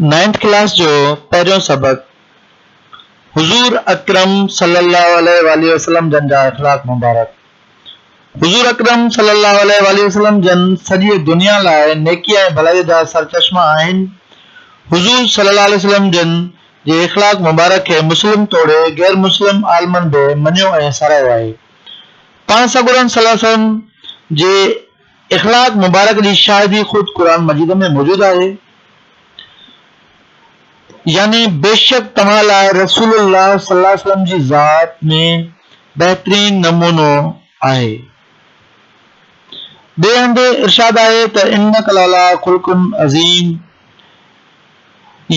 Ninth class جو پهريون سبق حضور اڪرم صلي الله عليه واٰله وسلم جن جا اخلاق مبارڪ حضور اڪرم صلي الله عليه واٰله وسلم جن سڄي دنيا لاء نيڪي ۽ ڀلائي جا سرچشما آهن حضور صلي الله عليه وسلم جن جي اخلاق مبارڪ کي مسلم توڙي غير مسلم عالمن به مڃيو ۽ ساراهيو آهي پاڻ سڳورن صلي الله عليه وسلم جي اخلاق مبارڪ جي شاهدي خود قرآن مجيد ۾ موجود آهي، يعني بيشڪ توهان لاء رسول الله صلي الله عليه وسلم جي ذات ۾ بهترين نمونو آهي. ٻئي هنڌ ارشاد آهي ته انڪ لعليٰ خلق عظيم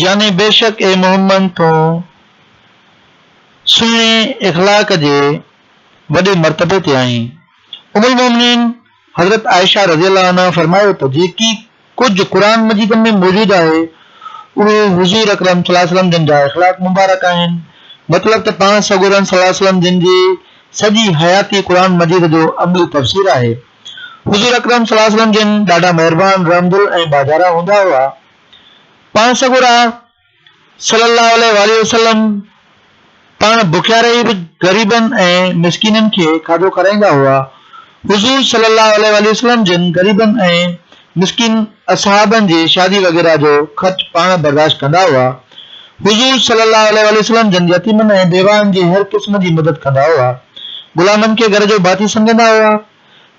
يعني بيشڪ اي محمد تون سهڻي اخلاق جي وڏي مرتبي تي آهين. ام المومنين حضرت عائشه رضي الله عنها فرمايو ته جيڪي ڪجهه قرآن مجيد ۾ موجود آهي اهي حضور اڪرم صلي الله عليه وسلم جن جا اخلاق مبارڪ آهن مطلب ته پاڻ سڳورن صلي الله عليه وسلم جن جي سڄي حياتي قرآن مجيد جو عملي تفسير آهي حضور اڪرم صلي الله عليه وسلم جن ڏاڍا مهربان رحمدل ۽ ٻاجهارا هوندا هئا پاڻ سڳورا صلّي اللّٰه عليه واٰله وسلّم پاڻ بکيا رهي به غريبن ۽ مسڪينن کي کاڌو کارائيندا هئا. حضور صلّي اللّٰه عليه واٰله وسلّم جن غريبن ۽ مسڪين اصحابن جي شادي وغيره جو خرچ پاڻ برداشت ڪندا هئا. حضور صلّي اللّٰه عليه واٰله وسلّم جن يتيمن ۽ بيواهن جي هر قسم جي مدد ڪندا هئا. غلامن کي گهر جو ڀاتي سمجهندا هئا.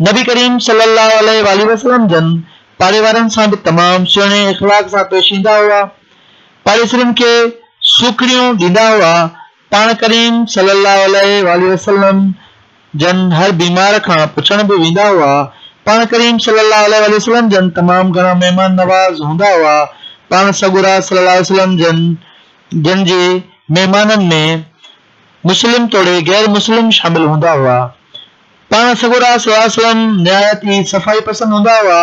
نبي ڪريم صلّي اللّٰه عليه واٰله وسلّم جن پاڙيوارن سان به تمام سهڻي اخلاق سان پيش ايندا هئا. پاڙيسرين کي سوکڙيون ڏيندا هئا. پاڻ ڪريم صلّي اللّٰه عليه واٰله وسلّم جن هر بيمار کان پڇڻ به ويندا هئا. پاڻ ڪريم صلّي اللّٰه عليه واٰله وسلّم جن تمام گهڻا مهمان نواز هوندا هئا. پاڻ سڳورا صلّي اللّٰه عليه وسلّم جن جن جي مهمانن ۾. مسلم توڙي غير مسلم شامل هوندا هئا. پاڻ سڳورا صلي الله عليه وسلم نهايت ئي صفائي پسند هوندا هئا.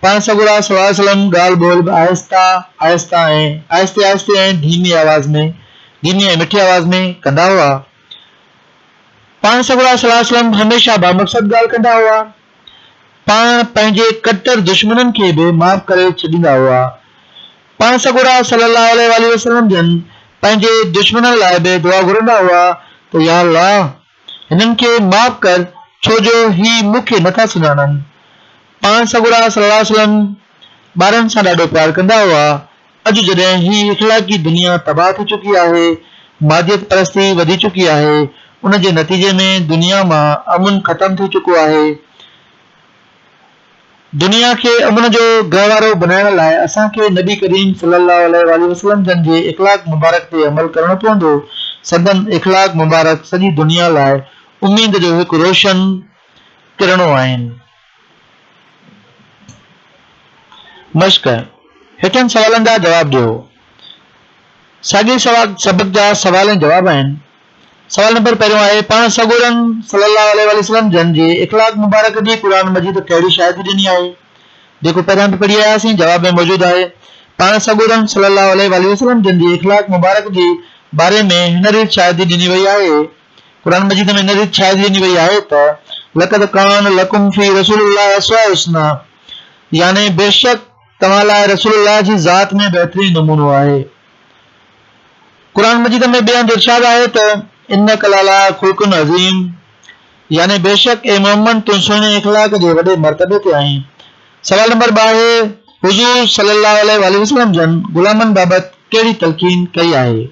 پاڻ سڳورا صلي الله عليه وسلم ڳالهه ٻولهه به آهسته آهسته ۽ آهستي آهستي ۽ ڌيمي آواز ۾ ڌيمي ۽ مٺي آواز ۾ ڪندا هئا. پاڻ سڳورا صلي الله عليه وسلم هميشه بامقصد ڳالهه ڪندا هئا. پاڻ پنهنجي ڪٽر دشمنن کي به معاف ڪري ڇڏيندا هئا. پاڻ سڳورا صلّي اللّٰه عليه واٰله وسلّم جن پنهنجي دشمنن لاء به دعا گهرندا هئا ته يا اللّٰه هنن کي معاف ڪر ڇو جو هي مون کي نٿا سڃاڻن. پاڻ سڳورا صلّي اللّٰه عليه وسلّم ٻارن سان ڏاڍو پيار ڪندا هئا. اڄ جڏهن هي اخلاقي دنيا تباهه ٿي چڪي آهي، ماديت پرستي وڌي چڪي آهي، ان جي نتيجي ۾ دنيا مان امن ختم ٿي چڪو آهي، دنيا کي امن جو گهوارو بنائڻ لاء اسان کي نبي ڪريم صلي الله عليه واٰله وسلم جن جي اخلاق مبارڪ تي عمل ڪرڻو پوندو، سندن اخلاق مبارڪ سڄي دنيا لاء اميد جو هڪ روشن ڪرڻو آهن. مشق، هيٺين سوالن جا جواب ڏيو. ساڳئي سبق جا سوال ۽ جواب آهن. سوال نمبر پهريون آهي، پاڻ سڳورن صلّي اللّٰه عليه واٰله وسلّم جن جي اخلاق مبارڪ جي قرآن مجيد ڪهڙي شاهدي ڏني آهي؟ جيڪو پهريان به پڙهي آياسين جواب ۾ موجود آهي. پاڻ سڳورن صلّي اللّٰه عليه واٰله وسلّم جن جي اخلاق مبارڪ جي باري ۾ هن ريت شاهدي ڏني وئي آهي، قرآن مجيد ۾ هن ريت شاهدي ڏني وئي آهي ته، لقد ڪان لڪم في رسول اللّٰه اسوة حسنة يعني بيشڪ توهان لاء رسول الله جي ذات ۾ بهترين نمونو آهي. قرآن مجيد ۾ ٻئي هنڌ ارشاد آهي ته انڪ لالا خلق عظيم يعني بيشڪ اي محمد تون سهڻي اخلاق جي وڏي مرتبي تي آهين سوال نمبر ٻه آهي حضور صلي الله عليه وآله وسلم جن غلامن بابت ڪهڙي تلقين ڪئي آهي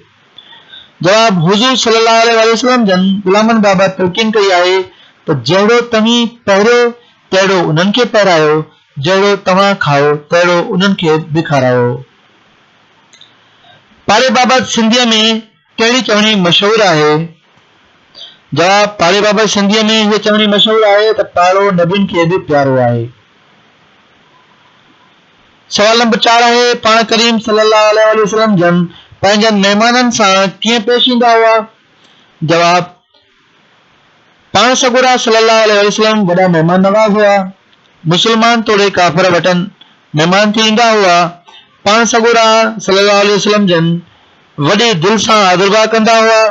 جواب حضور صلي الله عليه وآله وسلم جن غلامن بابت تلقين ڪئي آهي ته جهڙو توهين پهريو تهڙو انهن کي پهرايو جهڙو توهان کائو تهڙو انهن کي به کارايو پاڙي بابت سنڌيء ۾ ڪهڙي چوڻي مشهور آهي؟ جواب، پاڙي بابت سنڌيء ۾ هيء چوڻي مشهور آهي ته پاڙو نبين کي به پيارو آهي. سوال نمبر چار آهي، پاڻ ڪريم صلي الله عليه واٰله وسلم جن پنهنجن مهمانن سان ڪيئن پيش ايندا هئا؟ جواب، پاڻ سڳورا صلي الله عليه وسلم وڏا مهمان نواز هئا. مسلمان توڙي ڪافر وٽن مهمان ٿي ايندا هئا. پاڻ سڳورا صلي الله عليه وسلم جن وڏي دل سان آدرڀاء ڪندا هئا.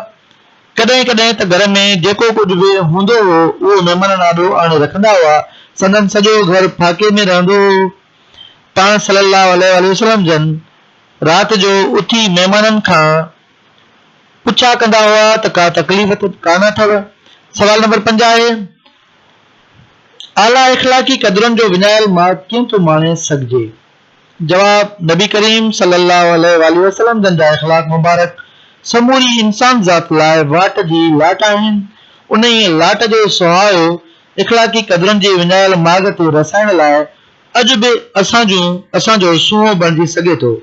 ڪڏهن ڪڏهن ته گهر ۾ جيڪو ڪجهه به هوندو هو اهو مهمانن آڏو آڻي رکندا هئا. سندن سڄو گهر ڦاڪي ۾ رهندو هو. پاڻ صلي الله عليه وسلم جن رات جو اٿي مهمانن کان پڇا ڪندا هئا ته ڪا تڪليف ته ڪانه اٿئو؟ سوال نمبر پنج آهي، اعليٰ اخلاقي قدرن جو وڃايل ماڳ ڪيئن ٿو ماڻي سگهجي؟ جواب، نبي ڪريم صلي الله عليه واٰله وسلم جن جا اخلاق مبارڪ سموري انسان ذات لاء واٽ جي لاٽ آهن، انهيء لاٽ جو سهارو اخلاقي قدرن جي وڃايل ماڳ تي رسائڻ لاء اڄ به اسان جون اسان جو سونهون بڻجي سگهي ٿو.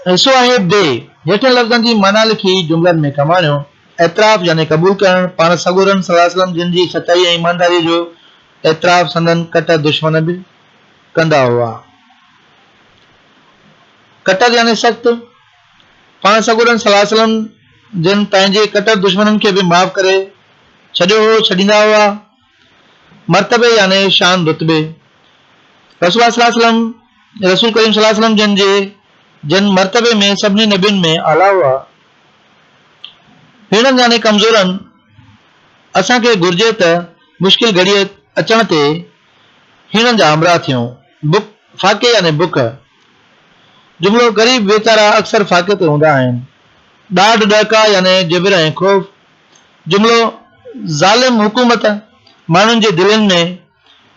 حصو آهي ڊي. هيٺين لفظن جي معنيٰ لکي جملن ۾ ڪم آڻيو. اعتراف يعني قبول ڪرڻ، پاڻ سڳورن صلّي وسلّم جن جي سچائي ۽ ايمانداريء جو اعتراف سندن ڪٽر دشمن به ڪندا هئا. ڪٽر يعني سخت، پاڻ سڳورن صلّي وسلّم جن پنهنجي ڪٽر دشمنن کي به معاف ڪري ڇڏيو هو، ڇڏيندا هئا. مرتبي يعني شان رتبي، رسول الله صلي الله عليه وسلم، رسول ڪريم صلي الله عليه وسلم جن جي جن مرتبي ۾ سڀني نبين ۾ اعليٰ هئا، هيڻن يعني ڪمزورن اسان کي گهرجي ته مشڪل گهڙيء اچڻ تي هيڻن جا همراهه ٿيون. بک، فاقي يعني بک، جملو غريب ويچارا اڪثر فاقي تي هوندا آهن. ڏاڍ، ڏهڪاء يعني جبر ۽ خوف، جملو، ظالم حڪومت ماڻهن جي دلين ۾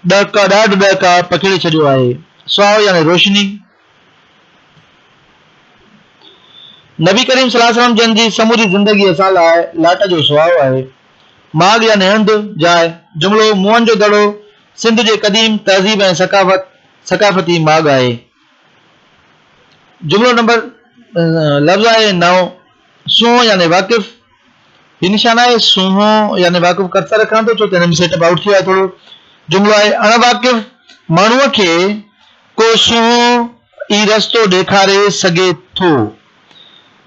ڏهڪاء ڏاڍ ڏهڪاء پکيڙي ڇڏيو آهي. سهائو يعني روشني. نبي ڪريم صلي الله عليه وسلم جن جي سموري زندگي اسان لاء لاٽ جو سهائو آهي. ماڳ يعني هنڌ، جاء. جملو، موئن جو دڙو سنڌ جي قديم تهذيب ۽ ثقافت، ثقافتي، ماڳ آهي. جملو نمبر لفظ آهي نو. سونهن يعني واقف هي نشان آهي سونهن يعني واقف ڪرسر رکان ٿو ڇو ته هن ۾ سيٽ اپ آئوٽ ٿيو آهي ٿورو جملو آهي اڻ واقف ماڻهوء کي ڪو سونهن ئي رستو ڏيکاري سگهي ٿو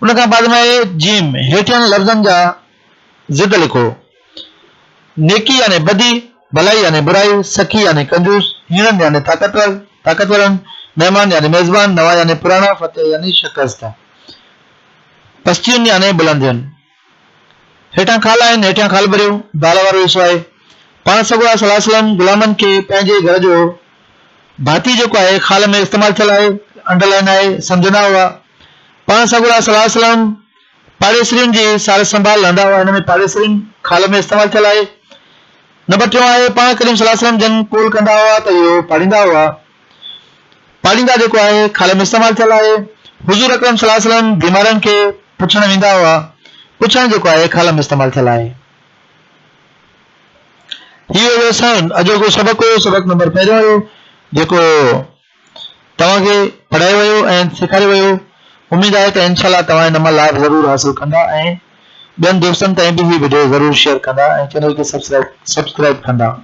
ان کان بعد ۾ آهي جيم هيٺين لفظن جا ضد لکو نيڪي يعني بدي ڀلائي يعني برائي سخي يعني ڪنجوس هيڻن يعني طاقتور طاقتورن مهمان يعني ميزبان نوان يعني پراڻا فتح يعني شڪست پستيون يعني بلنديون. هيٺان خال آهن، هيٺيان خال ڀريو، دال وارو حصو آهي. پاڻ سڳورا صلي الله عليه وسلم غلامن کي پنهنجي گهر جو ڀاتي جيڪو آهي خال ۾ استعمال ٿيل آهي، انڊر لائن آهي، سمجهندا هئا. پاڻ سڳورا صلي الله عليه وسلم پاڙيسرين جي سار سنڀال لهندا هئا، هن ۾ پاڙيسرين خال ۾ استعمال ٿيل آهي. نمبر ٽيون آهي، پاڻ ڪريم صلي الله عليه وسلم جن قول ڪندا هئا ته اهو پاڙيندا هئا. پاليندا جيڪو آهي خالي ۾ استعمال ٿيل آهي. حضور اڪرم صلي الله عليه وسلم بيمارن کي پڇڻ ويندا هئا. پڇڻ جيڪو آهي خالي ۾ استعمال ٿيل آهي. هي هيو اسان اڄوڪو سبق هيو سبق نمبر پهريون هيو جيڪو توهان کي پڙهايو ويو ۽ سيکاريو ويو اميد آهي ته انشاء الله توهان ان مان لاڀ ضرور حاصل ڪندا ۽ ٻين دوستن تائين به هي وڊيو ضرور شيئر ڪندا ۽ چينل کي سبسڪرائب سبسڪرائب ڪندا